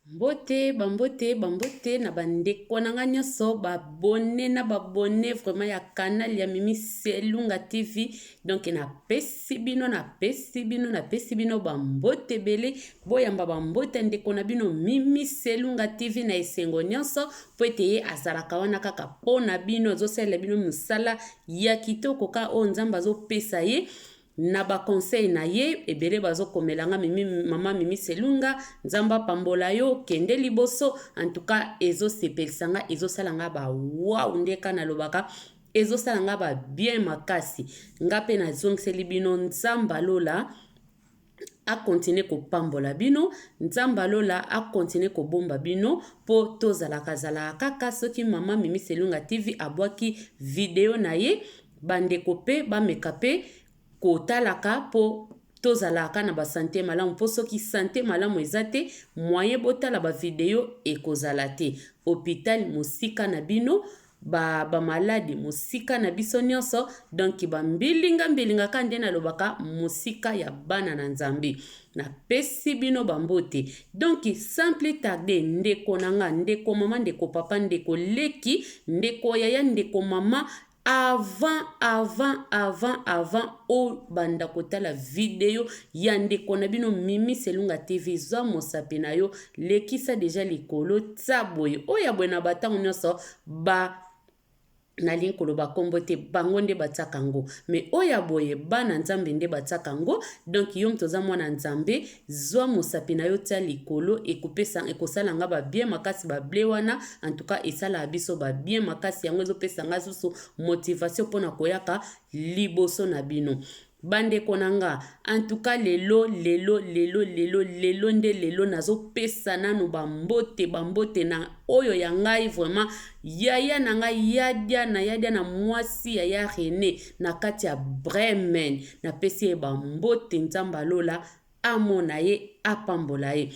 Mbote, ba mbote, ba mbote na ba ndeko na nga nionso ba abonne na ba abonne vraiment ya canal ya Mimi Selunga TV. Donc na pesi bino na pesi bino na pesi bino ba mbote ebele boyamba ba mbote ndeko na bino Mimi Selunga TV na esengo nionso po ete ye azalaka wana kaka po na bino azosalela bino mosala ya kitoko ka oyo Nzambe azopesa ye. na ba conseil na ye ebele bazo komela nga mimi maman mimi selunga nzambe apambola yo kende liboso en tout cas ezo sepelisa nga ezo sala nga ba wow nde ka nalobaka ezo sala nga ba bien makasi nga pe nazongiseli bino nzamba lola akontinue kopambola bino nzambe alola akontinue kobomba bino mpo tozalaka zalaka kaka soki mama mimi selunga tv abwaki video na ye Bandeko mpe bameka mpe kotalaka mpo tozalaka na ba sante malamu mpo soki sante malamu eza te moyen botala ba video ekozala te hopital mosika na bino ba ba malade mosika na biso nyonso donc ba mbilinga mbilinga ka nde nalobaka mosika ya bana na nzambe napesi bino bambote donc sans plus tarde ndeko na nga ndeko mama ndeko papa ndeko leki ndeko yaya ndeko mama Avant avant avant avant obanda kotala video ya ndeko na bino Mimi Selunga TV zwa mosapi na yo lekisa deja likolo tsa boye oyo ya boye na batango nyonso ba nalingi koloba nkombo te bango nde batiaka yango me oyo ya boye bana nzambe nde batiaka yango donk yo moto oza mwana nzambe Zua mosapi na yo tia likolo ekopesa ekosala nga ba bien makasi ba ble wana en tout cas esalaka biso ba bien makasi yango ezopesa nga susu motivation mpo na koyaka liboso na bino bandeko na nga en tout cas lelo lelo lelo lelo lelo nde lelo nazopesa nanu bambote bambote na oyo ya ngai vraiment yaya na ngai yadia na yadia na mwasi yaya rene na kati ya Bremen. Napesi ye bambote, Nzambe alola amona ye, apambola ye.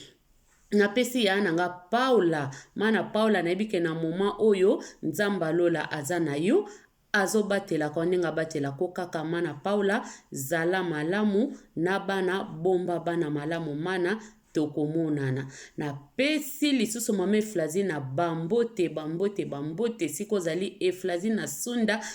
napesi ya na nga paula mana paula nayebi ke na moma oyo nzambe alola aza na yo azobatelaka yo ndenge abatelaka yo kaka mana paula zala malamu na bana bomba bana malamu mana Tokomonana. Na pesi lisusu mama Eflazi na ba mbote, ba mbote, ba mbote, esika ozali Eflazi na Sunda,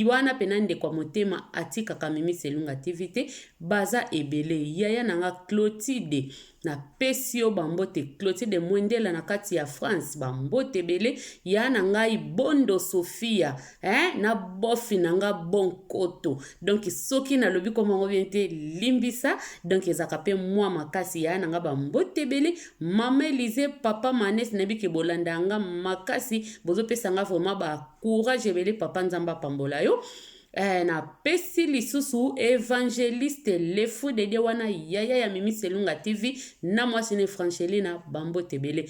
wana pena ndeko ya motema atikaka Mimi Selunga TV te, baza ebele, yaya na nga Clotide, na pesi yo ba mbote, Clotide Mwendela na kati ya France, ba mbote ebele, yaya na ngai Bondo Sofia, eh, na bofi na nga bon koto donk soki nalobi koma yango bien te limbisa donk ezalaka mpe mwa makasi ya na nga bambote ebele mama elize papa manes nayebi ke bolanda yanga makasi bozopesa nga vraiment bacourage ebele papa nzambe apambola yo eh, napesi lisusu evangeliste lefu dede wana yaya ya mimi selunga tv na mwasi ne franchelina bambote ebele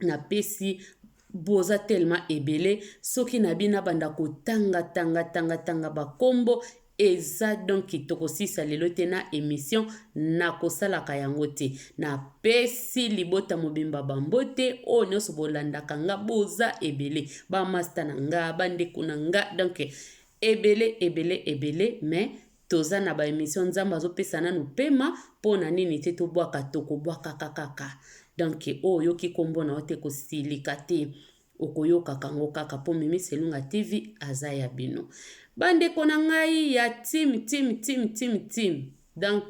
napesi boza tellement ebele soki na bino abanda kotanga tanga tanga tanga bakombo eza donki tokosisa lelo te na emission nakosalaka yango te napesi libota mobimba bambo te oyo nyonso bolandaka nga boza ebele bamasta na nga bandeko na nga donk ebele ebele ebele mais Toza na ba emission nzambe azo pesa nanu pema pona nini te to bwaka toko bwakaka kaka donc oyo oyoki kombo na yo te ko silika te okoyokaka yango kaka po mimi selunga TV aza ya bino ba ndeko na ngai ya team team team team team donc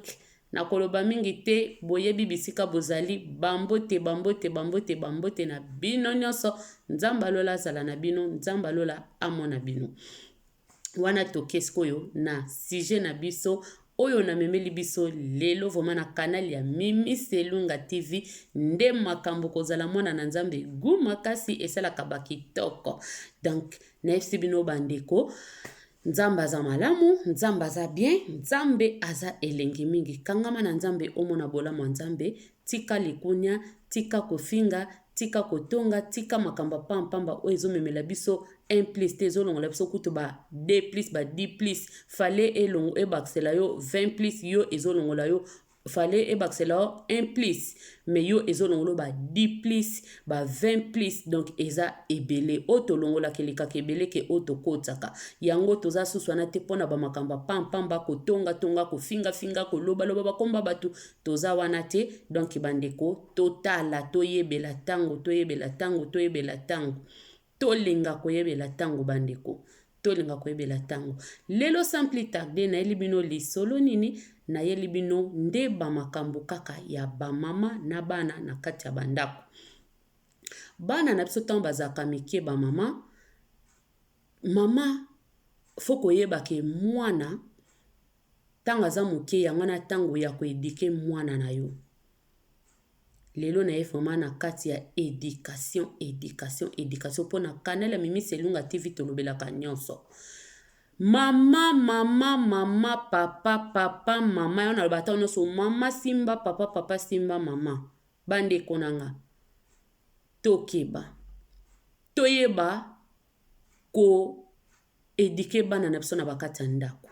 na koloba mingi te boyebi bisika bozali bambote bambote bambote bambote na bino nyonso nzambe alola azala na bino nzambe alola amona bino wana toke sikoyo na sujet na biso oyo namemeli biso lelo vraimen na kanal ya mimi selunga tv nde makambo kozala mwana na nzambe gu makasi esalaka bakitoko donk nayebisi bino bandeko nzambe aza malamu nzambe aza bien nzambe aza elengi mingi kangama na nzambe omona bolamu ya nzambe Tika likunia, tika kofinga, tika kotonga, tika makambo ya pamba pamba oyo ezo memela biso un plus te ezo longola biso kutu ba deux plus ba dix plus fallait elongo ebakisela yo vingt plus yo ezo longola yo fallait ebakisela yo un plus mais yo ezo longola ba dix plus ba vingt plus donc eza ebele oyo tolongolaka elekaka ebele ke oyo tokotisaka yango toza susu wana te mpo na bamakambo ya pamba pamba kotonga tonga kofinga finga koloba loba bakomba bato Toza wana te donc ba ndeko totala toyebela tango toyebela tango toyebela tango tolinga koyebela tango ba ndeko tolinga koyebela tango lelo sans plus tarder nayeli bino lisolo nini nayeli bino nde ba makambo kaka ya ba mama na bana na kati ya ba ndako bana na biso tango bazalaka mike ba mama Maman faut koyeba ke mwana tango aza muke yango wana tango ya ko eduquer mwana na yo. Lelo naye vraiment na kati ya education, education, education pona canal ya Mimi Selunga TV tolobelaka nionso. Maman, maman, maman, papa, papa, maman yango nalobaka tango nionso maman simba papa, papa simba maman. Bandeko na nga tokeba toyeba ko eduquer bana na biso na ba kati ya ndako.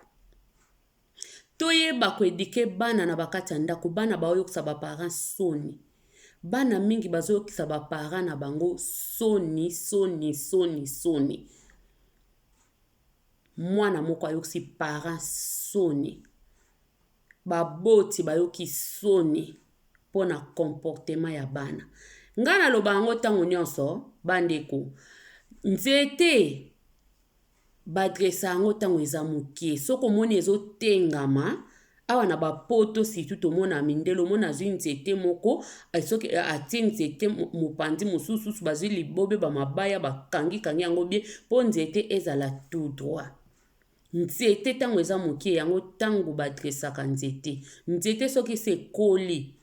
Toyeba ko eduquer bana na ba kati ya ndako, bana ba yokisa ba parents soni. Bana mingi bazo yokisa ba parents na bango soni, soni, soni, soni. Mwana moko ayokisi parents soni baboti bayoki soni mpo na comportement ya bana ngai naloba yango ntango nyonso bandeko nzete badresa yango ntango eza moke soki omoni ezotengama awa na bapoto situ tomona mindele omona azwi nzete moko soki atie nzete mopanzi mosususu bazwi libobe bamabaya bakangi kangi yango bye mpo nzete ezala tout droit Nzete ntango eza moke yango ntango badresaka nzete nzete soki esi ekoli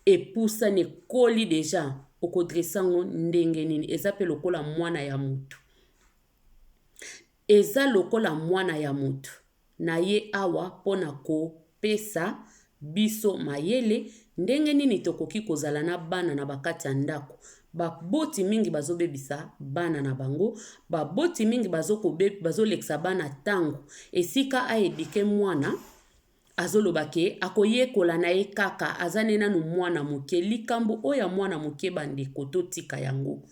epusani ekoli deja okodrese yango ndenge nini eza mpe lokola mwana ya motu eza lokola mwana ya motu na ye awa mpo na ko Pesa biso mayele ndenge nini tokoki kozala na bana na ba kati ya ndako. Ba boti mingi bazo bebisa bana na bango. Ba boti mingi bazo ko bazo lekisa bana tango. Esika a eduquer mwana azo loba ke ako yekola na ye kaka aza ne nanu mwana moke. Likambo oyo ya mwana moke ba ndeko to tika yango.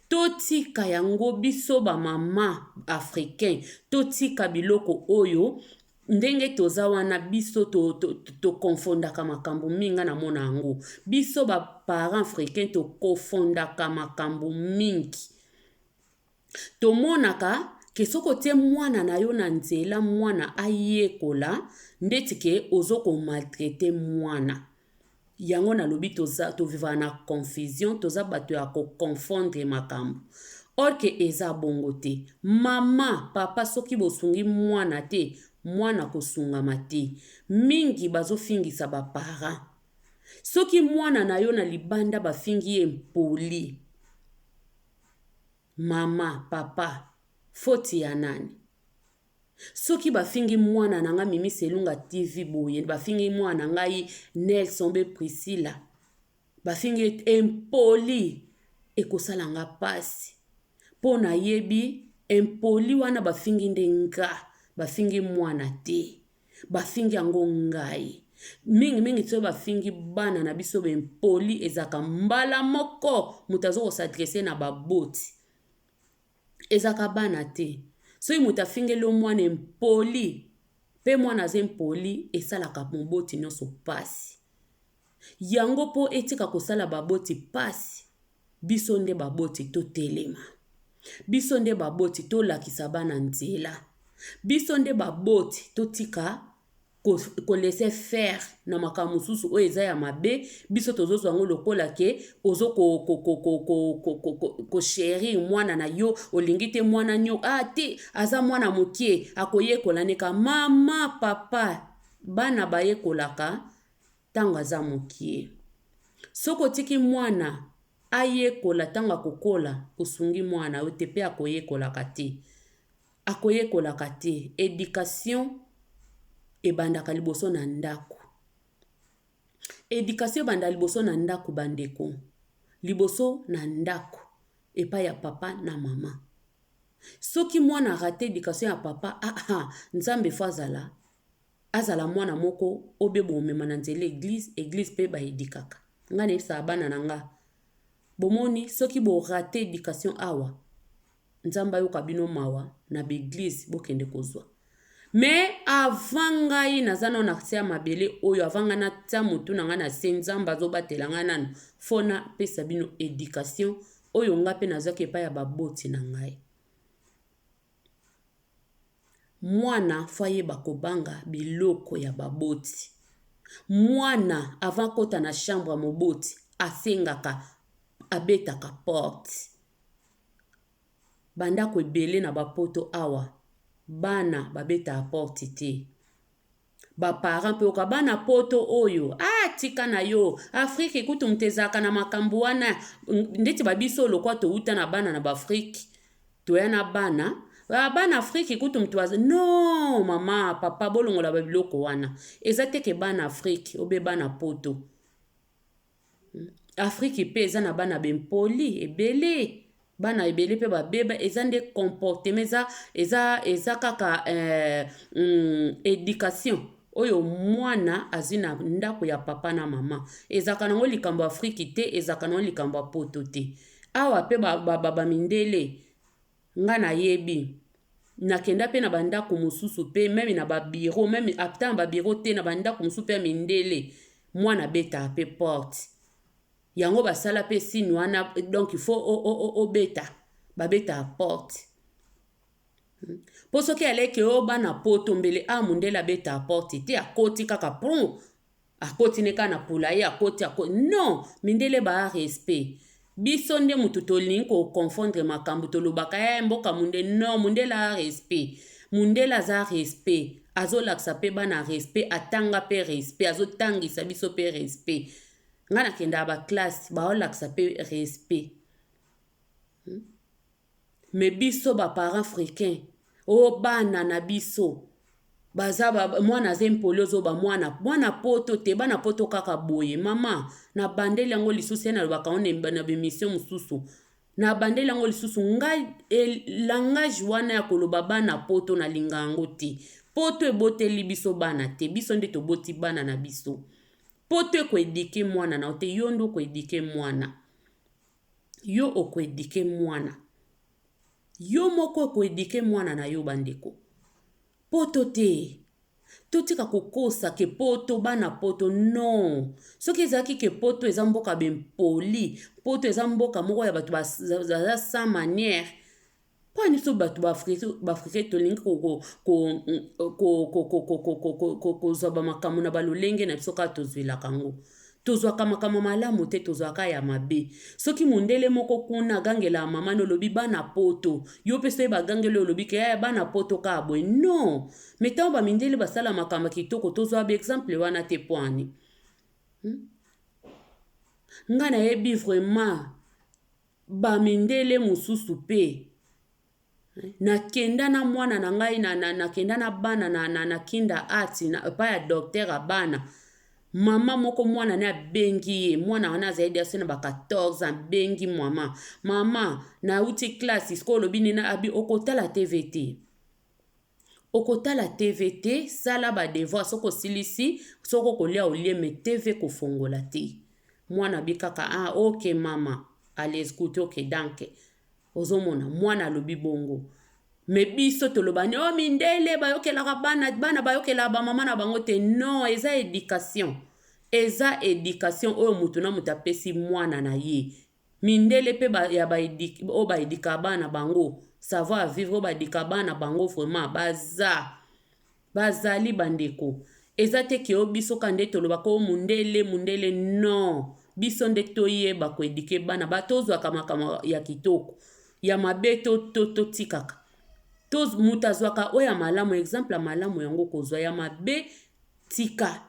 To tika yango biso ba maman africain to tika biloko oyo ndenge toza wana biso to, to, to, to confondaka makambo mingi nga namona yango biso ba parents africain to confondaka makambo mingi tomonaka ke soki otie mwana na yo na nzela mwana ayekola ndeti ke ozo komaltraite mwana Yango na lobi toza to vivaka na confusion toza bato ya ko confondre makambo or que eza bongo te maman papa soki bosungi mwana te mwana kosungama te mingi bazofingisa ba parents soki mwana na yo na libanda bafingi ye mpoli maman papa foti ya nani Soki bafingi mwana na nga Mimi Selunga TV boye, bafingi mwana na ngai Nelson be Priscilla, bafingi impoli, ekosala nga pasi. Mpo nayebi impoli wana bafingi nde nga, bafingi mwana te. Bafingi yango ngai. Mingi mingi soki bafingi bana na biso bempoli ezalaka mbala moko moto azokosadrese na baboti. Ezalaka bana te. Soki moto afingeli yo mwana impoli mpe mwana aza impoli esalaka moboti nyonso mpasi. Yango mpo etika kosala baboti mpasi biso nde baboti totelema, biso nde baboti tolakisa bana nzela, biso nde baboti totika ko, ko laisser faire na makambo mosusu oyo eza ya mabe biso tozozwa yango lokola ke ozo ko, ko, ko, ko, ko, ko, ko, ko, ko cherir mwana na yo olingi te mwana nio a ah, te aza mwana mokie akoyekola neka mama papa bana bayekolaka ntango aza mokie soki otiki mwana ayekola ntango akokola osungi mwana yo te mpe akoyekolaka te Akoyekolaka te. Education ebandaka liboso na ndaku. Education ebanda liboso na ndaku ba ndeko. Liboso na ndaku epai ya papa na mama. Soki mwana a rate education ya papa aa Nzambe faut azala azala mwana moko oyo be bomema na nzela ya eglise, eglise pe ba edukaka. Nga na yebisaka bana na nga. Bomoni soki bo rate education awa. Nzambe ayoka bino mawa na ba eglise bokende kozwa mais avant ngai naza nano na se ya mabele oyo avant ngai natia motu na ngai na se nzambe azobatela ngai nano fo napesa bino education oyo ngai mpe nazwaki epai ya baboti na ngai mwana fo ayeba kobanga biloko ya baboti mwana avant akota na chambre ya moboti asengaka abetaka porte ba ndaku ebele na ba poto awa bana ba betaka porte te ba parent pe oyoka bana poto oyo ah tika na yo afrique kutu moto ezalaka na makambu wana neti ba biso lokola towuta na bana na ba afrique toya na bana ah bana afrique kutu moto aza non mama papa bolongola ba biloko wana eza te ke bana afrique obe bana poto. Afrique pe eza na bana ba impoli ebele bana ebele pe ba beba eza nde comportement eza eza eza kaka education oyo mwana azui na ndako ya papa na mama ezalaka na yango likambo ya afrique te ezalaka na yango likambo ya poto te awa pe ba baba mindele. Nga na yebi. Na kenda pe na ba ndaku mususu pe meme na ba bureau meme ata na ba bureau te na ba ndaku mususu pe ya mindele mwana abetaka pe porte yango ba sala pe signe wana donc il faut obeta ba betaka porte po soki aleki yo bana poto mbele awa mundele abetaka porte te akoti kaka prun akoti ne kaka na pola ye akoti akoti non mindele ba respect biso nde moto tolingi koconfondre makambo tolobaka ya eh, mboka munde non mundele a respect mundele aza respect azolakisa mpe bana respect atanga mpe respect azotangisa biso mpe respect ngai nakendaka baklasse baolakisa mpe respect hmm? Mais biso ba parents frequin oh bana na biso baza ba, mwana aza impoli ozoba mwana mwana poto te bana poto kaka boye mama na bandeli yango lisusu ye nalobaka yango na bemission mosusu na bandeli yango lisusu ngai e, langage wana ya koloba bana poto nalinga yango te poto eboteli biso bana te biso nde toboti bana na biso poto ekoedike mwana na yo te yo nde okoedike mwana Yo oko eduquer muana. Yo moko oko eduquer muana na yo bandeko. Poto te. Totika kokosa ke poto bana poto non. Soki ezalaki ke poto eza mboka ba impoli, poto eza mboka moko ya batu baza sans maniere, mpo biso bato baafrika tolingi kozwa bamakambo na balolenge na biso kaka tozwelaka yango tozwaka makambo malamu te tozwaka ya mabe soki mondele moko kuna agangelaka mama na olobi bana poto yo mpe soki bagangeli olobi ke yaya bana poto kaka boye non me ntango bamindele basala makambo kitoko tozwa baexemple wana te poani hmm? ngai nayebi vraiment Bamindele mosusu mpe. Nakenda na mwana na ngai, nakenda na bana na kindergarten, epai ya docteur ya bana, mama moko mwana na ye abengi ye, mwana wana azali dejà se na ba 14 ans, abengi mama, mama, nauti classe, sikoyo olobi nini? Alobi okotala TV te. Okotala TV te, sala ba devoirs soki osilisi, soki okolia olie mais TV kofongola te. Mwana abi kaka ah ok mama, allez goute ok danke. Ozo mona mwana alobi bongo. Mais biso toloba nde oh mindele bayokelaka bana, bana bayokelaka ba mama na bango te. Non, eza education. Eza education oyo mutu na mutu apesi mwana na ye. Mindele pe ba ya ba educ oyo ba educa bana bango savoir vivre oyo ba educa bana bango vraiment baza bazali ba ndeko eza te ke o biso ka nde toloba ko mundele mundele non biso nde toyeba ko eduque bana ba tozwaka makambo ya kitoko ya mabe to to totikaka toz moto azwaka oyo ya malamu exemple ya malamu yango okozwa ya mabe tika.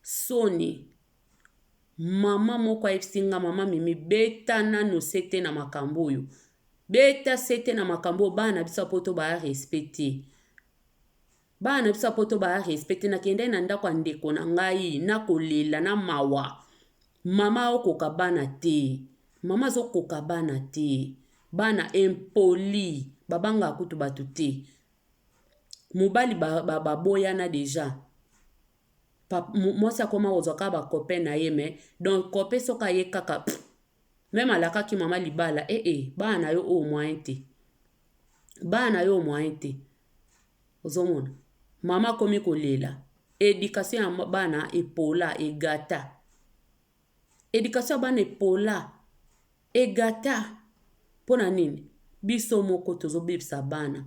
Soni. Maman moko ayebisi nga maman mimi beta nanu sete na makambo oyo. Beta sete na makambo oyo bana na biso ya poto ba respect te. Bana na biso ya poto ba respect te nakendaki na ndako ya ndeko na ngai na kolela na mawa. Mama okoka bana te. Mama azokoka bana te. Bana impoli babanga kutu bato te. Mobali baboyana ba, ba deja. mwasi akoma kozwa kaka ba copain na ye mais donc copain soki aye kaka pff, meme alakaki mama libala ee eh, eh, bana na yo oyo moyen te bana na yo oyo moyen te ozomona mama akomi kolela education ya bana epola egata Education ya bana epola, egata pona nini? Biso moko tozo bebisa bana.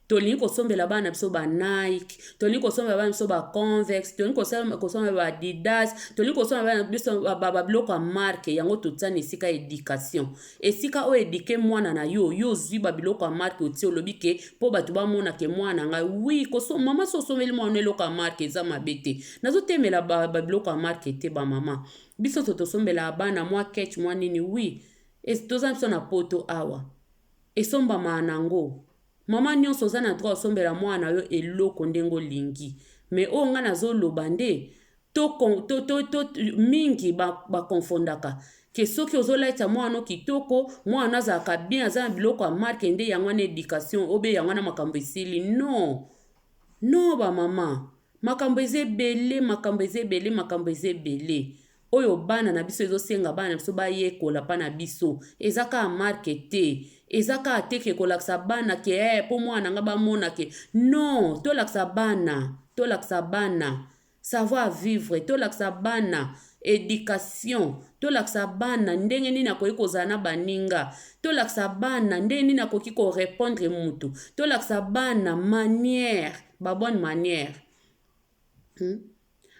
Tolingi kosombela bana na biso ba Nike, tolingi kosombela bana na biso ba Converse, tolingi kosombela ba Adidas, tolingi kosombela bana na biso ba biloko ya marque yango totia na esika education. Esika o eduquer mwana na yo, yo ozui ba biloko ya marque otie olobi ke po batu ba mona ke mwana na ngai oui ko so maman so osombeli mwana no eloko ya marque eza mabe te. Nazo temela ba ba biloko ya marque te ba maman. Biso to tosombelaka bana mwa ketch mwa nini oui. Est toza na biso na poto awa. Esombamaka nango. Maman nionso oza na droit osombela mwana na yo eloko ndenge olingi mais oyo nga nazo loba nde to to to to mingi ba, ba confondaka ke soki ozo laitisa mwana no kitoko mwana no azalaka bien aza na biloko ya marke nde yango wana education obe yango wana makambo esili non non ba mama makambo eza ebele makambo eza ebele makambo eza ebele oyo bana na biso ezo senga bana na biso ba yekola pa na biso eza kaka marque te eza kaka te ke kolakisa bana ke eh po mwana na nga ba mona ke non tolakisa bana tolakisa bana savoir vivre tolakisa bana education tolakisa bana ndenge nini akoki kozala na baninga tolakisa bana ndenge nini akoki ko repondre mutu tolakisa bana manière ba bonne manière Hmm?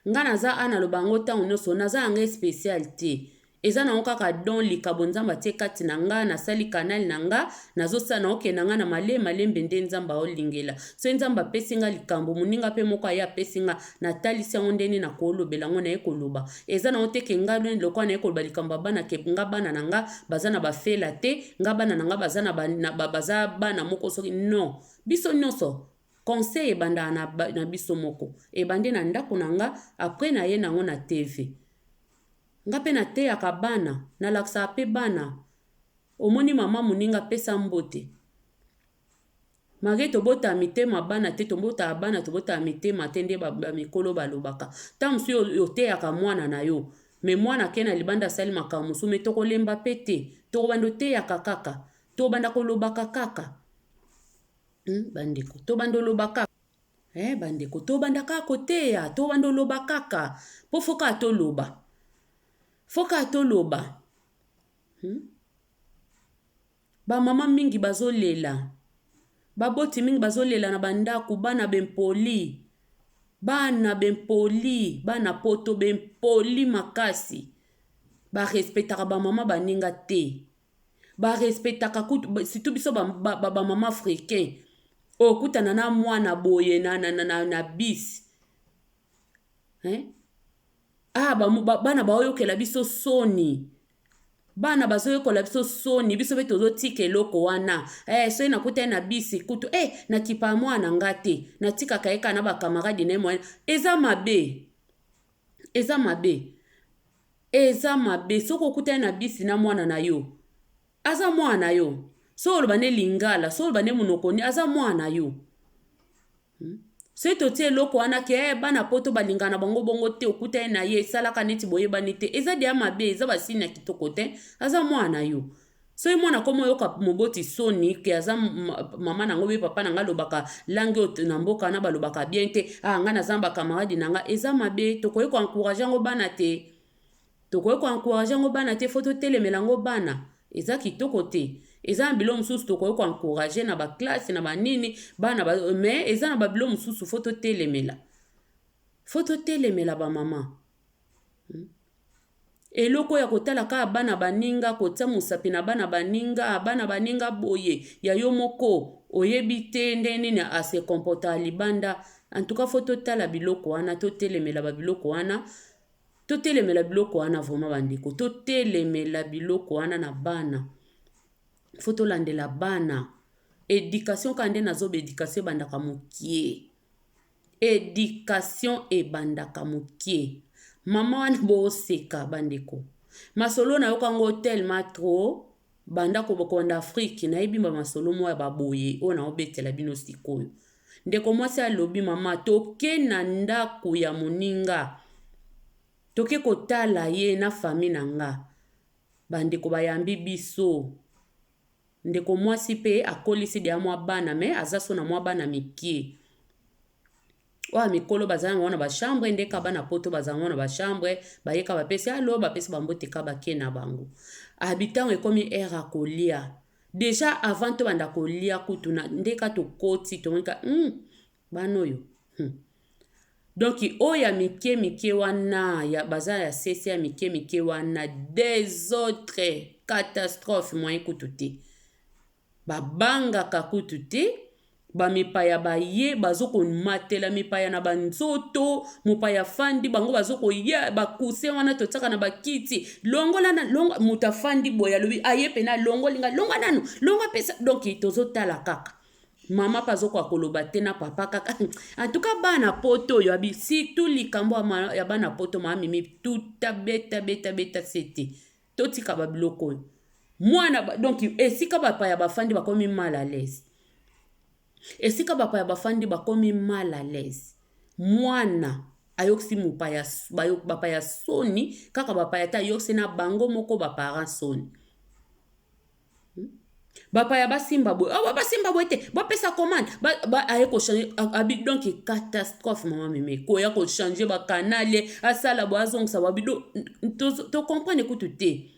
Nga naza a naloba yango ntango nyonso, naza na ngai special te. Eza nango kaka don likabo Nzambe atie kati na nga, nasali kanali na nga, nazosala na okende na nga na male malembe nde Nzambe aolingela. Soki Nzambe apesi nga likambo, moninga mpe moko aye apesi nga, natalisi yango ndenge na kolobela yango, naye koloba. Eza nango te ke nga lweni lokola naye koloba likambo ya bana ke nga bana na nga baza na bafela te, nga bana na nga baza na ba, na, ba, baza bana moko soki non. Biso nyonso Conseil ebanda na na biso moko ebandi na ndako na nga après na ye nango na TV nga pe na teyaka bana na lakisaka pe bana omoni maman muninga pesa mbote malgre tobota mitema bana te tobota bana tobota mitema te nde ba mikolo balobaka ta mosusu oteyaka mwana na yo me mwana ke na libanda asali makambo mosusu me tokolemba pe te tokobanda oteyaka kaka tobanda kolobaka kaka Hmm, bandeko tobanda oloba kaka eh, bandeko tobanda kaka koteya tobanda oloba kaka mpo fo kaka toloba fo kaka toloba hmm? bamama mingi bazolela baboti mingi bazolela na bandako bana bempoli bana bempoli bana poto bempoli makasi barespetaka bamama baninga te ba respectaka kutu surtout biso ba, ba, ba, ba mama africain okutana na mwana boye na, na, na, na, na bis eh? ah, ba, ba, bana baoyokela biso soni bana bazoyekola biso soni biso mpe tozotika eloko wana eh, soki nakutai na bisi kutu e eh, nakipa mwana nga te natikaka ye kaka na bakamaradi na ye moyen eza mabe Eza mabe eza mabe soki okutani na bisi na mwana na yo aza mwana na yo soki oloba nde lingala soki oloba nde monoko nini aza mwana na yo hmm? soki totie eloko wana ke eh, bana poto balingana bango bongo te okutani na ye esalaka neti boyebani te eza deya mabe eza basini ya kitoko te aza mwana na yo Soki mwana akoma oyoka moboti soni ke aza mama nango be papa nanga alobaka langue oyo na mboka wana balobaka bien te ah nga naza ba camarade nanga eza mabe tokoki ko encourage yango bana te tokoki ko encourage yango bana te fo totelemela yango bana eza kitoko te eza na bilo mosusu tokoki ko encourage na ba classe na banini bana ba, mais eza na ba bilo mosusu fo totelemela fo totelemela bamama eloko ya kotala kaka bana baninga kotia mosapi na bana baninga bana baninga boye ya yo moko oyebi te nde nini ase kompota libanda antuka fo totala biloko wana totelemela babiloko wana totelemela biloko wana vrema bandeko totelemela biloko wana na bana fo tolandela bana edikatioka nde nazoba edikacio ebandaka mokie Education ebandaka mukie. Maman wana bo seka ba ndeko. Masolo na yoka ngo tellement trop banda ko banda Afrique na yebi ba masolo moko ya ba boye oyo na obetela bino sikoyo. Ndeko mwasi alobi mama toke na ndako ya moninga toke kotala ye na famille na nga. Ba ndeko ba yambi biso. Ndeko mwasi pe akolisi deja mwa bana mais aza so na mwa bana mikie. Oyo ya mikolo baza yango na ba chambre nde ka bana poto baza yango na ba chambre baye ka bapesi alo bapesi bambote ka bake na bango. Habitant ekomi heure ya kolia. Deja avant tobanda kolia kutu na nde ka tokoti tomoni ka hum bana oyo hum. Donc oyo ya mike mike wana ya baza ya sese ya mike mike wana desordre catastrophe moyen kutu te ba bangaka kutu te ba mipaya baye bazoko matela mipaya na ba nzoto mopaya afandi bango bazokoya ba coussin wana totiaka na ba kiti longola na longo moto afandi boye alobi aye pene alongoli ngai longwa nanu longwa pesa donc tozotala kaka. Maman pe azokoka koloba te na papa kaka en tout cas bana poto oyo abi surtout likambo ya ma- ya bana poto mama mimi tuta beta beta beta sete totika ba biloko oyo mwana ba- donc esika bapaya bafandi bakomi mal à l'aise esika bapaya bafandi bakomi mal à l'aise mwana ayokisi mopaya s- bayo- bapaya soni kaka bapaya te ayokisi na bango moko baparent soni bapaya basimba boye oh, basimba boye te bapesa commande aye kochange abi donc catastrophe mama meme koya kochange bakanale asala boye azongisa babi tocomprendre kutu te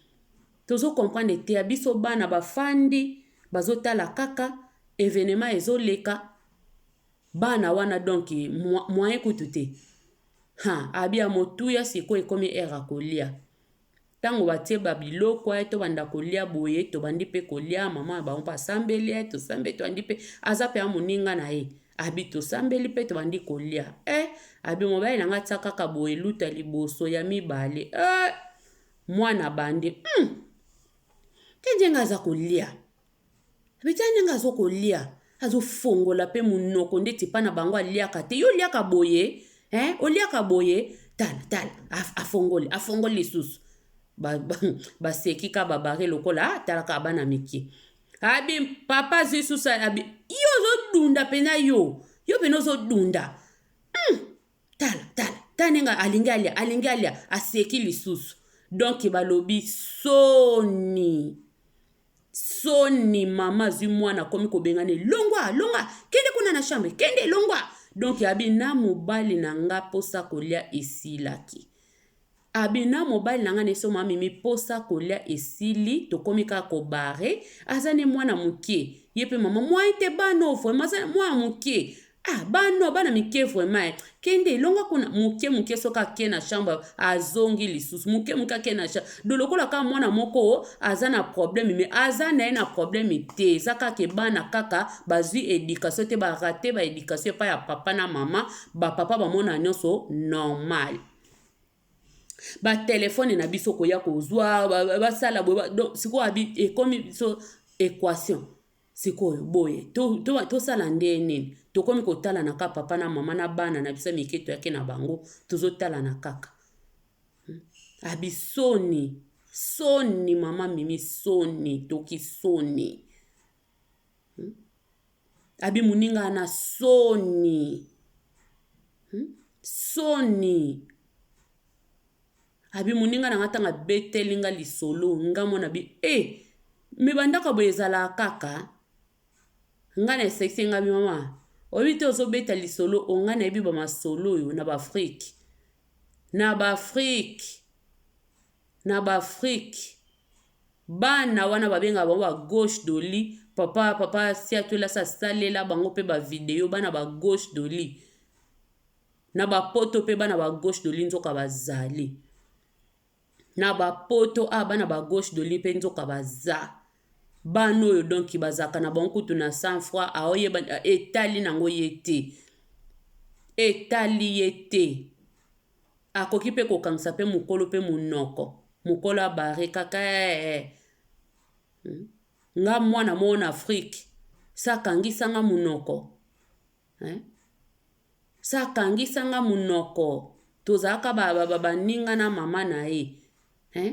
tozo comprendre te ya biso bana bafandi bazotala kaka evenema ezoleka bana wana donc moyen kutu te ha abi ya motuya sikoyo ekomi ere akolia Tango batie ba biloko eh, tobanda kolia boye, tobandi pe kolia, maman na bango pe asambeli eh, tosambeli, tobandi pe, aza penza moninga na ye, abi tosambeli pe tobandi kolia eh, abi mobali na nga tia kaka boye, luta liboso, ya mibale eh, mwana abandi hum! Kenje nga aza kolia. Betala ndenge azokolia azofongola mpe monoko ndeti epai na bango aliaka te yo oliaka boye eh? oliaka boye tala tala afongoli afongoli lisusu baseki ba, ba, ka babare lokola ah, talaka bana mike abi papa azwi susu abi yo ozodunda mpenza yo yo mpena ozodunda hmm. tala tala tala ndenge alingi alia alingi alia aseki lisusu donk balobi soni soni mama azwi mwana akomi kobengana elongwa longa kende kuna na chambre kende elongwa donk abi na mobali na nga mposa kolia esilaki Abi na mobali na nga neso ma mimi posa kolia esili tokomi kaka ko barre aza ne mwana mukie ye pe mama moyen te bano vraiment aza mwana mukie ah bano bana mike vraiment eh. kende elonga kuna moke moke soki ake na chambre azongi lisusu moke moke ake na chambre do lokola kaka mwana moko aza na problème me aza na ye na problème te eza kaka ebana kaka bazwi éducation te barate baéducation epai ya papa na mama bapapa bamona nyonso normal batelefone na biso koya kozwa basala boye donc sikoyo abi ekomi biso equation sikoyo boye tosala to, to nde nini tokomi kotalana kaka papa na mama na bana na biso ya mike toyaki na bango tozotalana kaka hmm? abi soni soni mama mimi soni toki soni hmm? Abi muninga na soni hum soni abi muninga na nga ntango abeteli nga lisolo nga mwana bi e me bandako ya boye ezalaka kaka nga na esekisi ye nga bi mama oyebi te ozobeta lisolo oyo nga nayebi ba masolo oyo na ba afrique na ba afrique. na ba afrique bana wana babengaka bango ba gauche de lit papa papa siatwela asi asalela bango mpe ba video bana ba gauche de lit na bapoto mpe bana ba gauche de lit nzoka bazali na bapoto oyo bana ba gauche de lit mpe nzoka baza bana oyo donki bazalaka na bango kutu na cent froi aoyeba etali na yango ye te etali ye te Akoki mpe kokangisa mpe mokolo mpe monoko. Mokolo a barre kaka ee. Hmm? Nga mwana moko na Afrique, sa kangisa nga monoko. Eh? Sa kangisa nga monoko. Tozalaka ba, ba, ba, ba ninga na mama na ye. Eh?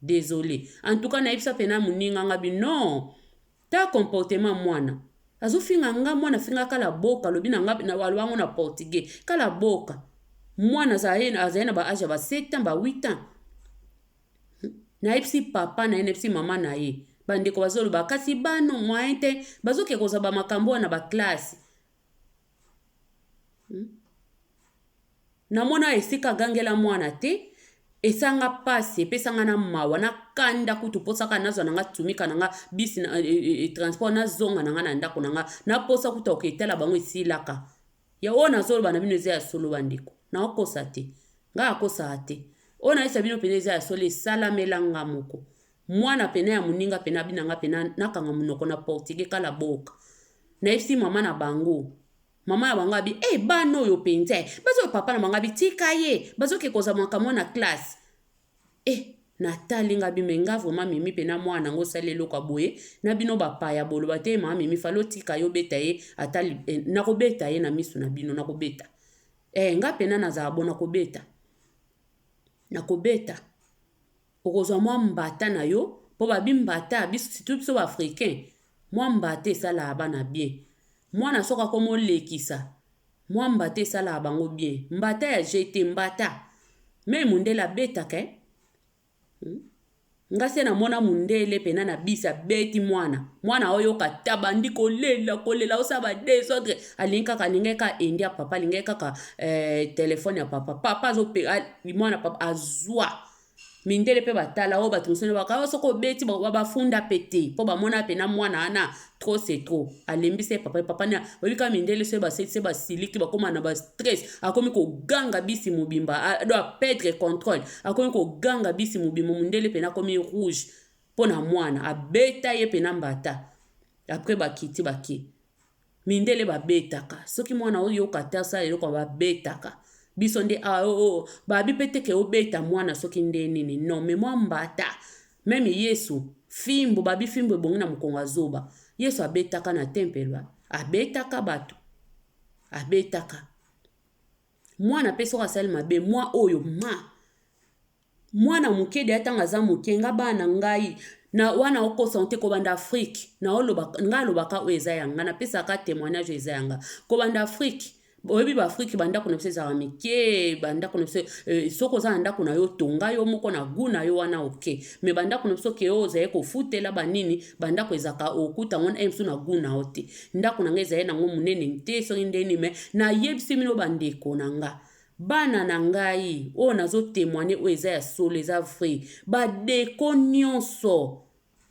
Desole en tout cas nayebisa pe na muninga nga bi non ta comportement muana azo finga nga muana afinga ka la boka alobi na nga na aloba ngo na portugais ka la boka muana azali azali na ba age ya ba 7 ans ba 8 ans nayebisi papa na ye nayebisi mama na ye bandeko bazoloba kasi bano moyen te bazoke kozwa bamakambo wana na baklasse namona esika agangela mwana te esanga pasi epesanga na mawa na kanda kutu posaka nazwa nanga tumika nanga bis na, e, e, e, transport nazonga nanga na ndako nanga naposa kutu akoke etala bango esilaka ya oyo nazoloba na bino eza ya solo bandeko naokosa te ngai akosaka te oyo nayesa bino mpenza eza ya solo esalamelanga moko Muana pena ya muninga pena abina nga pena nakanga munoko na portugais kala boka nayebisi maman na bango maman na bango abi eh bana oyo penza eh bazo oyo papa na bango abi tika ye bazo ke kozwa makambo na classe eh natali nga bi me nga vraiment mimi pena mwana na ngo sali eloko boye na bino bapaya boloba te mama mimi falo tika yo beta ye ata eh, nakobeta ye na misu na bino nakobeta eh nga pena nazala bona kobeta nakobeta Okozwa mwa mbata na yo po ba bi mbata biso surtout biso ba africain mwa mbata esalaka bana bien mwana soki akomi olekisa mwa mbata esalaka bango bien mbata ya jeux te mbata meme mundele abetaka eh hum nga se na mona mundele pena na bisi abeti mwana mwana aoyoka te abandi kolela kolela osala ba desordre alingi kaka alingaki kaka endi ya papa alingaki kaka eh, telefone ya papa papa azope mwana papa azwa mindele mpe batala oyo bato mosusu baka oh, soki obeti bafunda mpe te mpo bamona mpe na mwana wana trop c'est trop alembisa ye papa papa na oyebi kaka mindele soki basetise basiliki bakóma na bastress akomi koganga bisi mobimba do apedre contrôle akomi koganga bisi mobimba mondele mpe nakomi rouge mpo na mwana abeta ye mpe na mbata après bakiti bake Mindele ba betaka soki mwana azo yoka te asala eloko ba betaka biso nde awa oh, oh ba bi pe te ke obeta mwana soki nde nini non mais mwa mbata meme yesu fimbu ba bi fimbu ebongi na mokongo ya zoba yesu abetaka na tempelo a abetaka batu abetaka mwana pe soki asali mabe mwa oyo ma Mwana muke deja tango aza muke nga bana ngai na wana okosa ngo te kobanda Afrique na oloba nga alobaka oyo eza ya nga na pesa ka temoignage oyo eza ya nga kobanda Afrique boyebi ba Afrique ba ndako na biso ezalaka mike ba ndako na biso eh, soki oza na ndako na yo tonga yo moko na gout na yo wana oke me ba ndako na biso ke oyo ozali kofutela banini ba ndako ezalaka okuta ngo na biso na gout na yo te ndako na nga ezali nango monene te soki ndeni me nayebisi bino bandeko na nga Bana na ngai oyo nazo temoigner oyo eza ya solo eza vrai ba deco nionso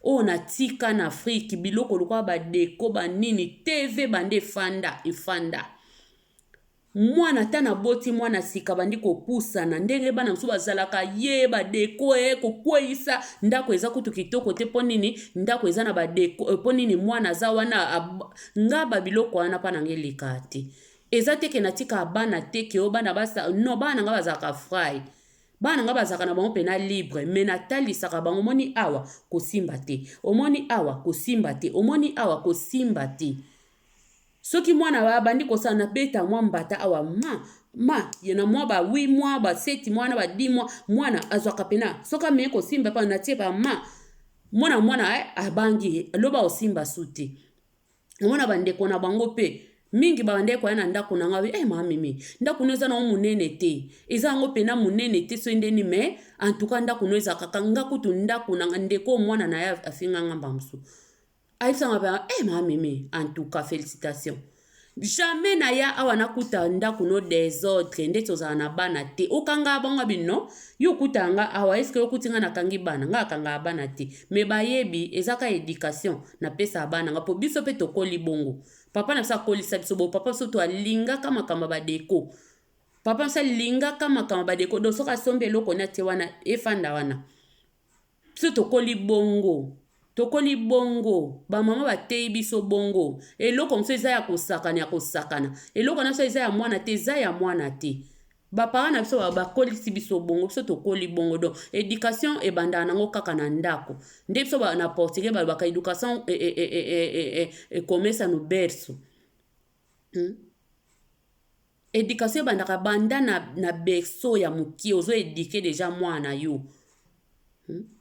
oyo na tika na Afrique biloko lokola ba deco ba nini TV banda efanda efanda mwana ata na boti mwana sika bandi kopusana ndenge bana mosusu bazalaka ye ba deco e kokweyisa ndako eza kutu kitoko te mpo nini ndako eza na ba deco mpo nini mwana aza wana nga ba biloko wana mpa na nga eleka te Eza te ke natika bana te ke o bana basa non bana na nga bazalaka frai bana na nga bazalaka na bango pena libre me natalisaka bango omoni awa kosimba te omoni awa kosimba te omoni awa kosimba te soki mwana abandi kosala na beta mwa mbata awa ma ma ye na mwa ba 8 mwa ba 7 mwa na ba 10 mwa mwana azwaka pena soki amei kosimba pa natie ba ma mwana mwana eh, abangi loba osimba su te omona bandeko na bango mpe mingi babandaki koya na ndako na ngai eh mama mimi ndako no eza nango monene te eza yango mpena monene te soki ndeni me antuka ndako no eza kaka nga kutu ndako na ndeko mwana na ye afinga nga mbala mosusu ayebisanga mpe eh mama mimi antuka félicitation jamais naya awa nakuta ndako no desordre ndeti ozala na bana te okanga bango bino Yo okuta nga awa est ce que okuti nga nakangi bana nga akangaka bana te mais bayebi eza ka education napesaka bana nga po biso pe tokoli bongo papa na biso akolisa biso bo papa biso to alingaka makambo ba deko papa biso alingaka makambo ba deko donc soki asombi eloko ne atie wana efanda wana biso tokoli bongo tokoli bongo bamama bateyi biso bongo eloko mosusu eza ya kosakana ya kosakana eloko na biso eza ya mwana te eza ya mwana te bapara na biso bakolisi biso bongo biso tokoli bongo don education ebandaka nango kaka na ndako nde biso na portugais balobaka education ekomesa no berso Hmm? Education ebandaka banda na, na berceau ya mokie ozo eduke deja mwana na yo hmm?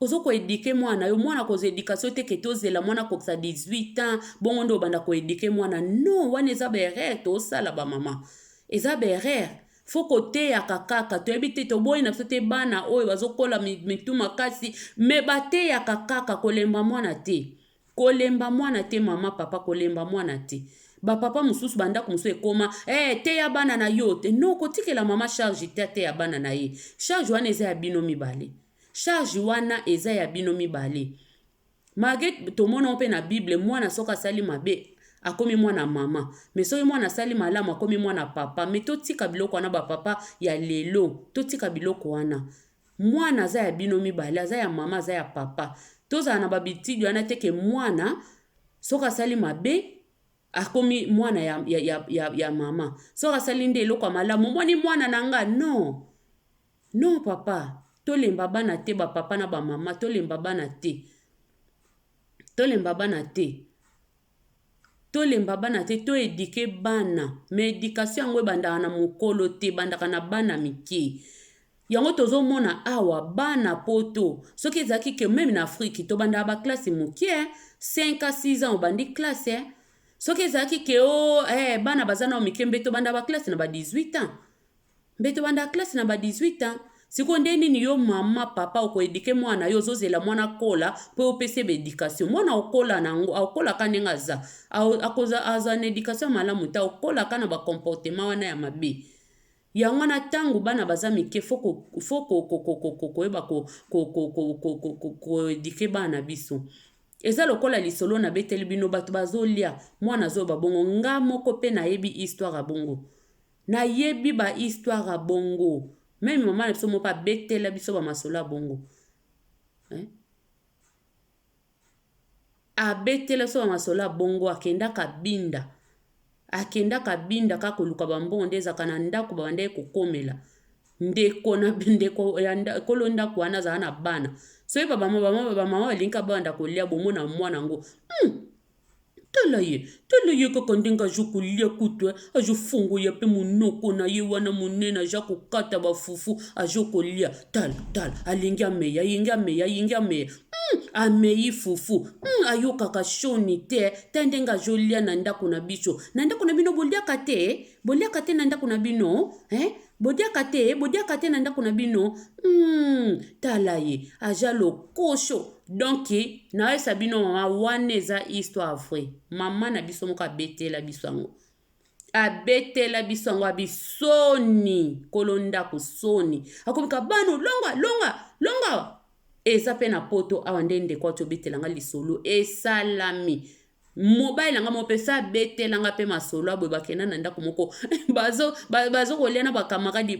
ozo koedike mwana na yo mwana kozwa education te ke tozela mwana akokisa 18 ans bongo nde obanda koedike mwana non wana eza baerreur tosala bamama eza baerreur fo koteyaka kaka toyebi te toboyi na biso te bana oyo bazokola mitu makasi me bateyaka kaka kolemba mwana te Kolemba mwana te maman papa kolemba mwana te ba papa mususu ba ndaku mususu ekoma eh teya bana na yo te non kotikela maman charge te ateya bana na ye charge wana eza ya bino mibale charge wana eza ya bino mibale malgre tomonango mpe na bible mwana soki asali mabe akomi mwana mama me soki mwana asali malamu akomi mwana papa me totika biloko wana bapapa ya lelo totika biloko wana Mwana aza ya bino mibale, aza ya mama, aza ya papa. Tozala na ba bitidi wana te ke mwana soki asali mabe akomi mwana ya, ya, ya, ya, ya mama. Soki asali nde eloko ya malamu, omoni mwana na nga? Non. Non papa, tolemba bana te, ba papa na ba mama, tolemba bana te. Tolemba bana te. Tolemba bana te to eduque bana mais education yango ebandaka na mukolo te ebandaka na bana mike yango tozomona awa bana poto soki ezalaki que meme na afrique tobandaka ba classe mukie 5 a 6 ans obandi classe soki ezalaki ke o oh, eh, bana baza nao mike mbe tobandaka ba classe na ba 18 ans Mbeto banda classe na ba 18 ans sikoyo nde nini yo mama papa oko eduke mwana na yo ozozela mwana akola mpo yo opesi ye ba education mwana akola na yango akola ka ndenge aza akoza azwa na education ya malamu te akola ka na ba comportement wana ya mabe yango wana ntango bana baza mike fo koyeba koedike bana na biso eza lokola lisolo na beteli bino bato bazolia mwana azoyoba bongo nga moko mpe nayebi histoire ya bongo Na yebi ba histoire ya bongo meme maman na biso moko abetela biso ba masolo ya bongo hein? abetela biso ba masolo ya bongo akendaka binda akendaka binda kaka koluka bambongo nde ezalaka na ndako babandaki kokomela ndeko na ndeko ya nkolo ndako wana azala na bana soki babama bamama balingaka banda kolia bomona mwana yango hmm. tala ye tala ye kaka ndenge azo kolia kutu eh, azo fongoya mpe monoko na ye wana monene aza kokata bafufu azo kolia tala tala alingi ameya alingi ameya alingi ameya mm, amei fufu mm, ayokaka soni te ta ndenge azolia na ndako na biso na ndako na bino boliaka te boliaka te na ndako na bino eh? bodiaka te bodiaka te na ndako na bino mm, tala ye aza lokoso Donc nayebisa bino mama wana eza histoire vraie mama na biso moko abetela biso yango abetela biso yango abisoni kolo ndako soni akomika bano longa longa longa eza mpe na poto awa nde ndeko ati obetela nga lisolo esalami mobali na nga moko mpe sa abetela nga mpe masolo aboye bakenda na ndako moko bazokolya na bakamaradi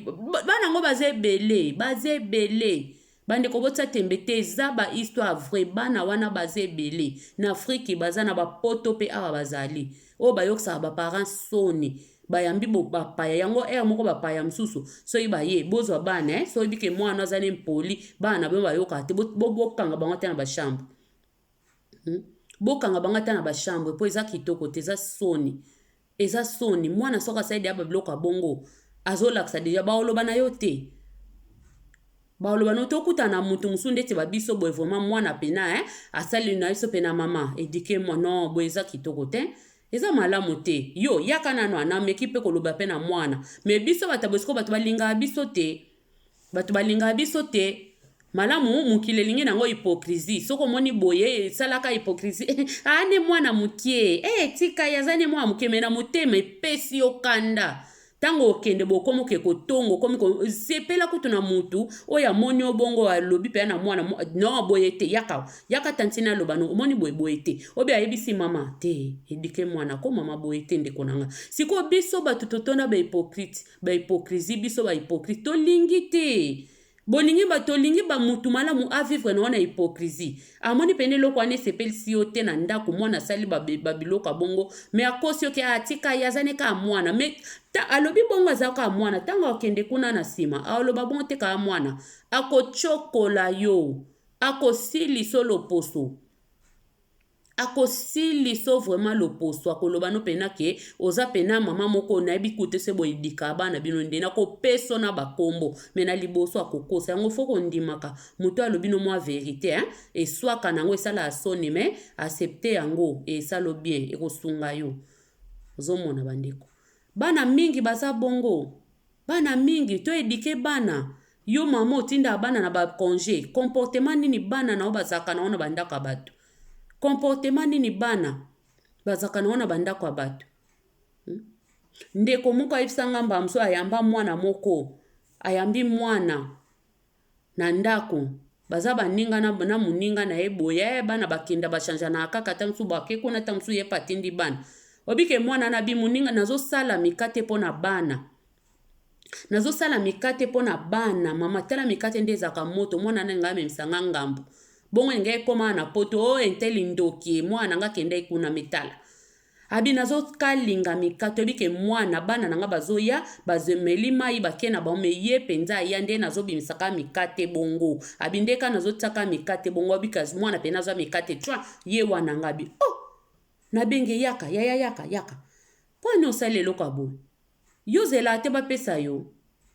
bana yango baza ebele baza ebele bandeko botya tembe te eza bahistoire vrai bana wana baza ebele na afriki baza na bapoto mpe awa bazali oyo bayokisaka baparent soni bayambi bapaya yango ere moko bapaya mosusu soki baye bozwa bana eh, soki bike mwana aza na impoli bana na bino bayokaka te bokanga bango te na bashambre Hmm? bokanga bango ata na bachambre mpo eza kitoko te eza soni eza soni mwana soki asali deya babiloko ya bongo azolakisa deja baoloba na yo te baoloba na yo te okutana na moto mosusu ndeti babiso boye vraimen mwana pena eh? asali na biso pena mama edike mwa no boye eza kitoko te eza malamu te yo yaka nano ana ameki mpe koloba mpe na mwana me biso bato ya bosiko bato balingaka biso te Bato balingaka biso te malamu mokili elingi nango hypocrisie soki omoni boye esalaka hypocrisie aa nde mwana mokie e eh, tika ye aza nde mwana mokie me na motema epesi yo kanda ntango okende bokomi oke kotongo okomi sepela kutu na motu oyo amoni yo bongo alobi mpenza na mwana no boye te yaka yaka tantine aloba no omoni boye boye te obe ayebisi mama te edike mwana ko mama boye te ndeko na nga sikoyo biso bato totona bahypocrite Ba hypocrisie biso ba hypocrite tolingi te bolingi ba tolingi ba mutu malamu a vivre na yo na hypocrisie amoni pene eloko wana esepelisi yo te na ndako mwana asali babiloko ya bongo me akosi yoke atika ye aza ne kaka mwana me ta alobi bongo aza kaka mwana ntango akende kuna na nsima aoloba bongo te kaka mwana akocokola yo akosilisa loposo akosilisa yo vraiment loposo akoloba no mpena ke oza mpena mama moko nayebi kute se boye dika bana bino nde nakopeso na bakombo me na liboso akokosa yango fo kondimaka moto alobi no mwa verite hein? eswaka na yango esalaka soni me acepte yango esalo bien ekosunga yo ozomona bandeko Bana mingi baza bongo. Bana mingi to eduquer bana. Yo maman otindaka bana na ba conge. Comportement nini bana na yo bazalaka na yo na ba ndako ya batu? Comportement nini bana bazalaka na yo na ba ndako ya batu? Hmm? Ndeko moko ayebisa nga mbala mosusu ayamba mwana moko. Ayambi mwana. na ndako baza baninga na, na moninga na ye boye eh, bana bakenda bachanjanaka kaka ntango mosusu bake kuna ntango mosusu ye mpe atindi bana obike mwana na bimoninga nazosala mikate mpo na bana nazosala mikate mpo na bana mama tala mikate nde ezalaka moto mwana na ngai amemisa ngai ngambo bongo elingai ekoma na poto o oh, enteli ndoki mwana na ngai akendaki kuna mitala Abi nazo kalinga mika toyebi ke muana bana na nga bazoya bazemeli mayi bake na bango mais ye penza aya nde nazo bimisa ka mika te bongo abi nde ka nazo tia ka mika te bongo abi kasi muana pena azwa mika te tchwa ye wana nga abi oh na benge yaka yaya yaka yaka pwani osali eloko ya boye Yo zela te ba pesa yo.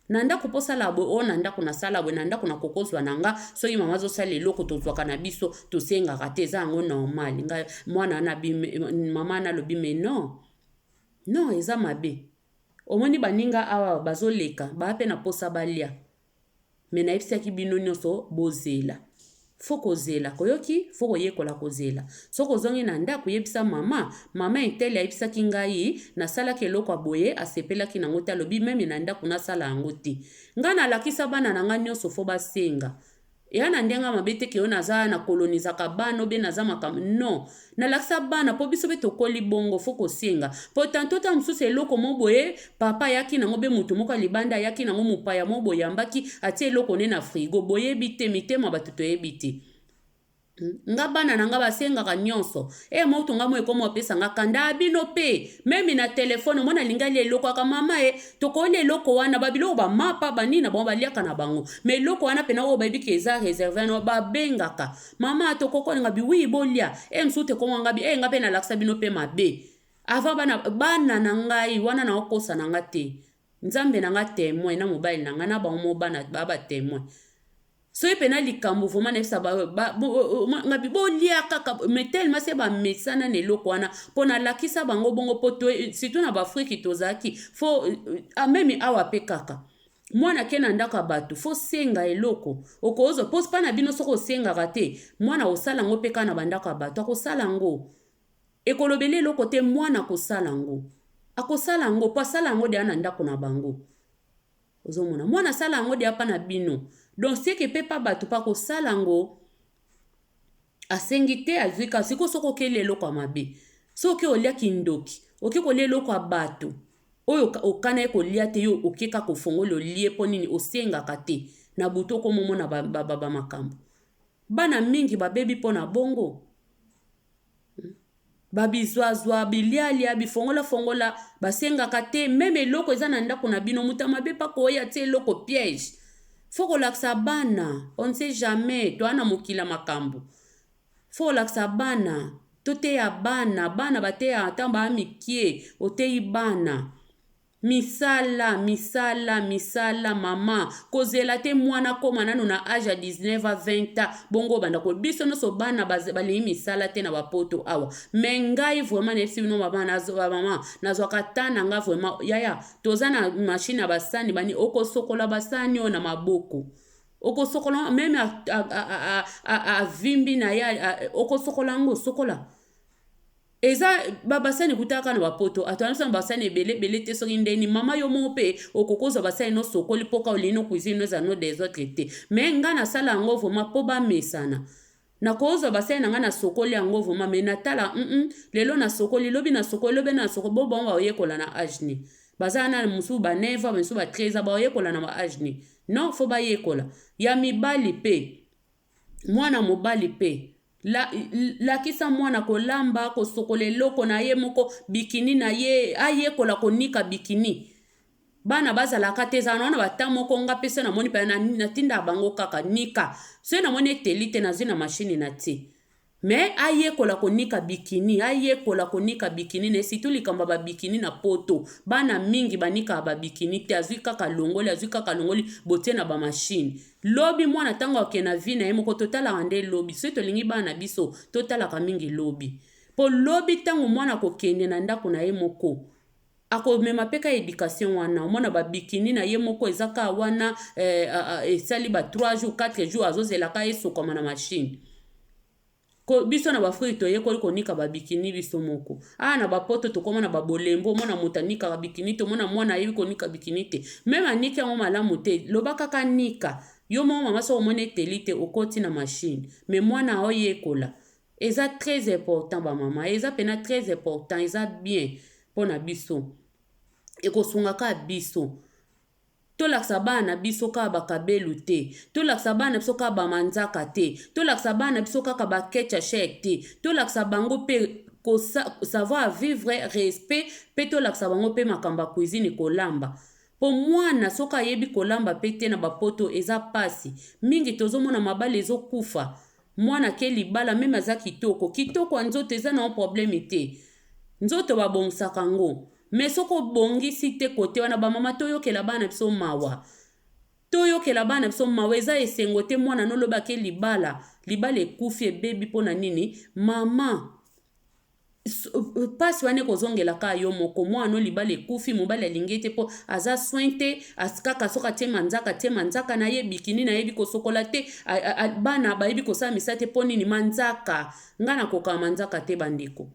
Na ndako po sala bwe o na ndako na sala bwe na ndako na koko zwa na nga soki mama azo sala eloko tozwaka na biso tosengaka te eza yango normal nga mwana ana bi mama ana lobi mais non non eza mabe omoni baninga awa bazoleka baa pe na posa balia mais nayebisaki bino nyonso bozela fo kozela koyoki fo koyekola kozela soki ozongi na ndako yebisa mama mama etele ayebisaki ngai nasalaki eloko ya boye asepelaki na yango te alobi meme na ndako nasala yango te ngai nalakisa bana na ngai nyonso fo basenga eya na ndenge mabe te keyo naza na kolonizaka bana obe naza makambo non Nalakisa bana po biso be tokoli bongo faut kosenga. Po tantot tango mosusu eloko mo boye papa ayaki nango be moto moko ya libanda ayaki nango mopaya mo boye ambaki atie eloko ne na frigo boyebi te mitema bato toyebi te. Hmm? Nga bana na nga basengaka nionso. E moto nga mo ekoma opesa nga kanda ah, bino pe meme na telefone mwana alingi alia eloko aka mama e tokolia eloko wana babiloko bamapa banini na bango baliaka na bango ma eloko wana pena oyo bayebi ke eza reserve no babengaka mama tokoko nga bi oui bolia e mosusu te koko nga bi e nga mpe nalakisa bino mpe mabe avant bana bana na ngai wana na okosa na nga te nzambe na nga temoin na mobali na nga na bango mo bana ba ba temoin soki mpe na likambo vraimen nayebisa nga bi bolia kaka mais tellement se bamesana na eloko wana mpo nalakisa bango bongo mpo surtout na baafrike tozalaki fo amemi awa mpe kaka Mwana ake na ndako ya bato fo senga eloko okozwa po spana bino soki osengaka te mwana akosala yango pe kaka na bandako ya bato akosala yango ekolobele eloko te mwana akosala yango akosala yango po asala yango deya na ndako na bango ozomona mwana asala yango deya pa na bino donc seke pe pa bato pa kosala yango Asengi te azui kaka sikoyo soki okeli eloko ya mabe soki olia kindoki oke kolia eloko ya bato oyo okana ye kolia te yo oke kaka ofongola olie mpo nini osengaka te na butu okomomona bamakambo bana mingi babebi mpo na bongo hmm. Ba bizwazwa, bilialia, bifongola fongola, basengaka te meme eloko eza na ndaku na bino mutu ya mabe pe akoya atie eloko piège. Faut kolakisa bana on ne sait jamais toa na mokili ya makambu. Faut kolakisa bana, toteya bana, bana bateyaka tangu ba mikie, oteyi bana. Misala, misala, misala maman. Kozela te muana akoma nanu na age ya 19 a 20 ans bongo obanda ko biso nioso bana balingi misala te na ba poto awa. Mais ngai vraiment nayebisi bino maman nazo ba maman nazwaka temps na nga vraiment yaya toza na machine ya ba sani bani okosokola ba sani oyo na maboko okosokola meme avimbi na ye okosokola yango sokola eza ba basani ekutaka kaka na bapoto ato anasana basani ebele ebele te soki ndeni mama yo moko mpe okoki kozwa basani no sokoli mpo kaka olingi no cuisine no eza no des autres te me ngai nasala yango vraimen mpo bamesana nakozwa basani na ngai nasokoli yango vraimen me natala mm -mm, lelo nasokoli lobi nasokoli lobi nasokoli bo bango baoyekola na age ni bazala na mosusu ba 9 ans mosusu ba 13 ans baoyekola na ba age ni non fo bayekola ya mibali mpe Mwana mobali pe. La, lakisa mwana kolamba, kosokola eloko na ye moko, bikini na ye, ayekola konika bikini. Bana bazalaka te, ezala na wana bata moko nga pe se namoni pe natindaka bango kaka nika. Soki namoni eteli te, nazwi na mashini natie. Mais ayekola konika bikini, ayekola konika bikini naye surtout likambo ya ba bikini na poto bana mingi banikaka ba bikini te azui kaka alongoli azui kaka alongoli botie na ba machine lobi mwana tango akokende na vie naye moko totalaka nde lobi soki tolingi bana na biso totalaka mingi lobi po lobi tango mwana akokende na ndaku naye moko Ako mema pe ka education wana omona ba bikini na ye moko eza ka wana eh, esali ba 3 jours 4 jours azo zela ka esokama na machine ko biso na bafriki toyekoli konika babikini biso moko awa na bapoto tokoma na babolembo omona moto anikaka bikini te omona mwana ayebi konika bikini te meme aniki yango malamu te loba kaka nika yo moko mama soki omoni eteli te okoti na mashine me mwana aoyekola Eza très important ba maman eza pena très important eza bien pona biso ekosunga ka biso tolakisa bana na biso kaka ba kabelu te tolakisa bana na biso kaka ba manzaka te tolakisa bana na biso kaka ba kecha shek te tolakisa bango pe ko savoir vivre respect pe tolakisa bango pe makambo ya cuisine kolamba po mwana soki ayebi kolamba pe te na bapoto eza pasi mingi tozomona mabala ezokufa Mwana ake libala meme aza kitoko kitoko ya nzoto eza na yo probleme te nzoto ba bongisaka ngo mais soki obongisi te kote wana ba mama toyokela bana biso mawa toyokela bana biso mawa eza esengo te mwana no lobi ake libala libala ekufi ebebi pona nini mama pasi wana ekozongela ka yo moko mwana no libala ekufi mobali alingi ye te mpo aza soin te kaka soki atie manzaka atie manzaka na ye bikini nayebi kosokola te bana bayebi kosala misala te mpo nini manzaka ngai nakokaka manzaka te bandeko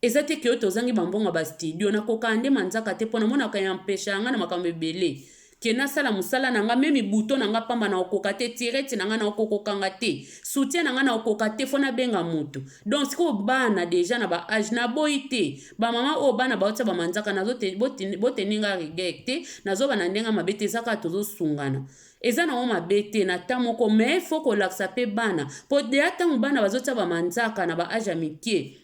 eza te ke oyo tozangi bambongo ya bastudio nakokaka nde manzaka te mpo namonaka ya mpesha ya ngai na makambo ebele que nasala musala na nga meme bouton na nga pamba na okoka te tirette na nga na okokoka nga te soutien na nga na okoka te fo na benga mutu donc sikoyo bana deja na ba age na boyi te ba mama oyo bana baotia ba manzaka nazo te boteni nga regret te nazo bana ndenge mabe te eza kaka tozo sungana eza nango mabe te na temps moko mais fo kolakisa pe bana po deja ntango bana bazotia ba manzaka na ba age ya mikie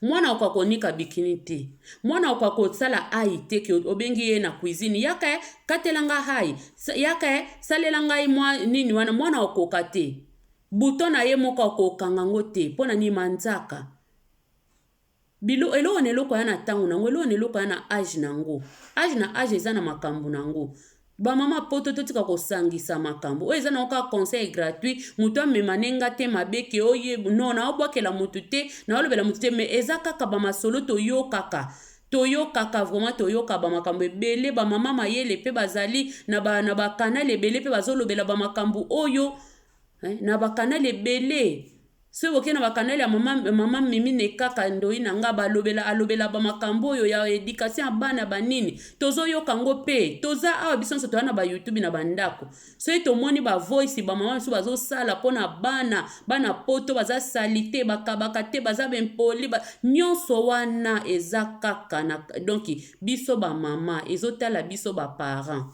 Mwana okoka konika bikini te. Mwana okoka kosala ayi te ke obengi ye na cuisine yaka eh, katela nga ayi, yaka eh, salela ngai mwa nini wana mwana okoka te. Bouton na ye moko akoki kokanga ngo te pona nini manzaka. Bilo eloko na eloko aya na tango na ngo, eloko na eloko aya na age na ngo. Age na age eza na makambu na ngo. ba mama poto totika kosangisa makambo oyo eza nango kaka conseil gratuit moto amema ne nga te mabe ke oye no naobwakela moto te naolobela moto te mais eza kaka bamasolo toyokaka toyokaka vraiment toyoka bamakambo ebele bamama mayele mpe bazali na bakanale ebele mpe bazolobela bamakambo oyo eh, na bakanali ebele soki bokei na bakanali ya mama, mama mimine kaka ndoi na nga balobela alobela bamakambo oyo ya edikation ya bana banini tozoyoka ngo mpe toza awa biso nyonso toya na bayoutube na bandako soki tomoni bavoice bamama mosusu bazosala mpo na bana bana poto baza sali te bakabaka te baza bempoli ba... nyonso wana eza kaka na donki biso bamama ezotala biso baparent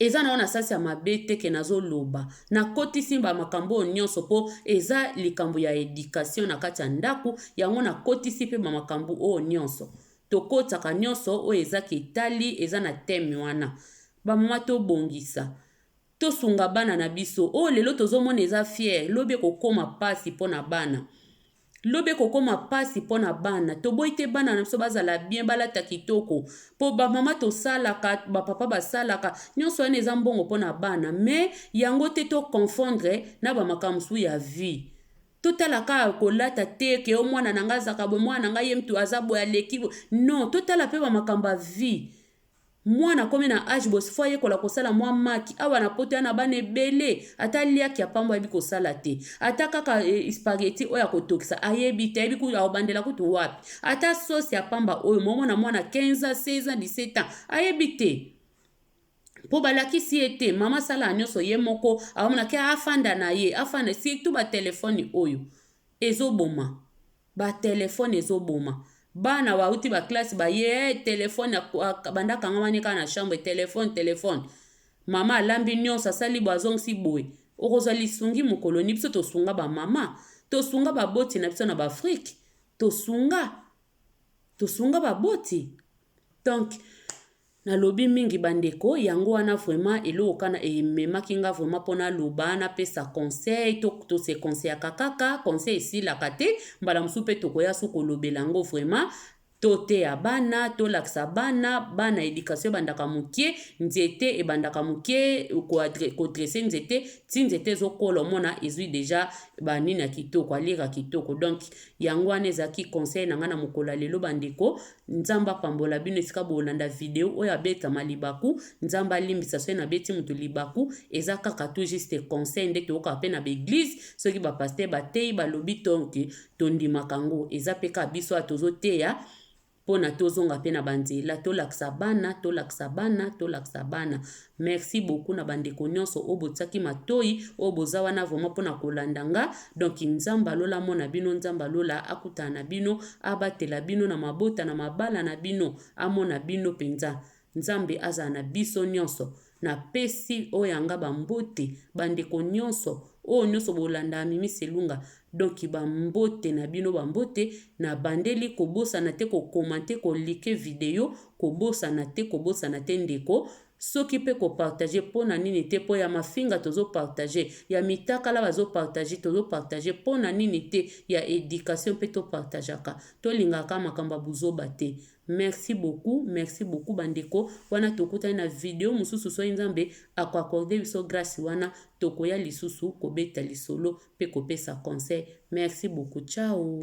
Eza na yo na sasi ya mabe te ke nazo loba. Na kotisi ba makambo oyo nionso po eza likambo ya education na kati ya ndaku yango na kotisi pe ba makambo oyo nionso. To kotaka nionso oyo eza ke etali eza na theme wana. Ba mama to bongisa. To sunga bana na biso. Oyo lelo tozo mona eza fier lobi eko koma pasi pona bana. Lobi ekokoma pasi pona bana toboyi te bana na biso bazala bien balata kitoko po ba mama tosalaka ba papa basalaka nionso wana eza mbongo pona bana mais yango te to confondre na ba makambo mosusu ya vie totala ka kolata te ke o mwana na nga azaka bo mwana na nga ye mtu aza boye aleki bo non totala pe ba makambo ya vie Mwana akomi na age boye faut ayekola kosala mwa maki. Awa na poto ya na bana ebele ata liaki ya pamba ayebi kosala te. Ata kaka spaghetti oyo ya kotokisa ayebi te, ayebi kutu akobandela kutu wapi. Ata sauce ya pamba oyo momona mwana 15 ans, 16 ans, 17 ans ayebi te. Po balakisi ye te, mama asala nyonso ye moko, aomona ke afanda na ye, afanda surtout ba telephone oyo ezoboma. Ba telephone ezo boma bana ba wuti ba classe ba ye eh telephone abandi akangama ne kaka na chambre telephone telephone maman alambi nionso asali boye azongisi boye okozwa lisungi mokolo nini biso tosunga ba maman tosunga ba boti na biso na ba afrique tosunga tosunga ba boti donc Nalobi mingi ba ndeko yango wana vraiment eloko kana ememaki nga vraiment po naloba napesa conseil to to se conseillaka kaka conseil esilaka te mbala mosusu pe tokoya su kolobela yango vraiment toteya bana tolakisa bana bana education ebandaka mokie nzete ebandaka mokie kodresse nzete ti nzete ezokola omona ezwi deja banini ya kitoko alire ya kitoko donc yango wana ezalaki conseil na ngai na mokolo ya lelo bandeko Nzambe apambola bino esika bolanda video oyo abetama libaku nzambe alimbisa soki nabeti moto libaku eza kaka tout juste conseil nde toyokaka mpe na baeglize soki bapaster bateyi balobi tonke tondimaka yango eza mpe kaka biso ya tozoteya mpo na tozonga mpe na banzela tolakisa bana tolakisa bana tolakisa bana Merci beaucoup na ba ndeko nionso oyo botiaki matoyi oyo boza wana vraiment pona kolanda nga donc nzambe ya lola amona bino nzambe ya lola akutana na bino abatela bino na mabota na mabala na bino amona bino penza nzambe azala na biso nionso na pesi oyo ya nga ba mbote ba ndeko nionso oyo nionso bolandaka mimi selunga Donc ba mbote na bino ba mbote na bandeli kobosana te ko commente ko like video kobosana te kobosana te ndeko soki pe ko partage pona nini te po ya mafinga tozo partage ya mitakala bazo partage tozo partage pona nini te ya education pe to partagaka to lingaka makambo ya buzoba te Merci beaucoup merci beaucoup ba ndeko wana tokutani na video mususu soki nzambe ako accorde biso grace wana tokoya lisusu kobeta lisolo pe kopesa conseil merci beaucoup ciao.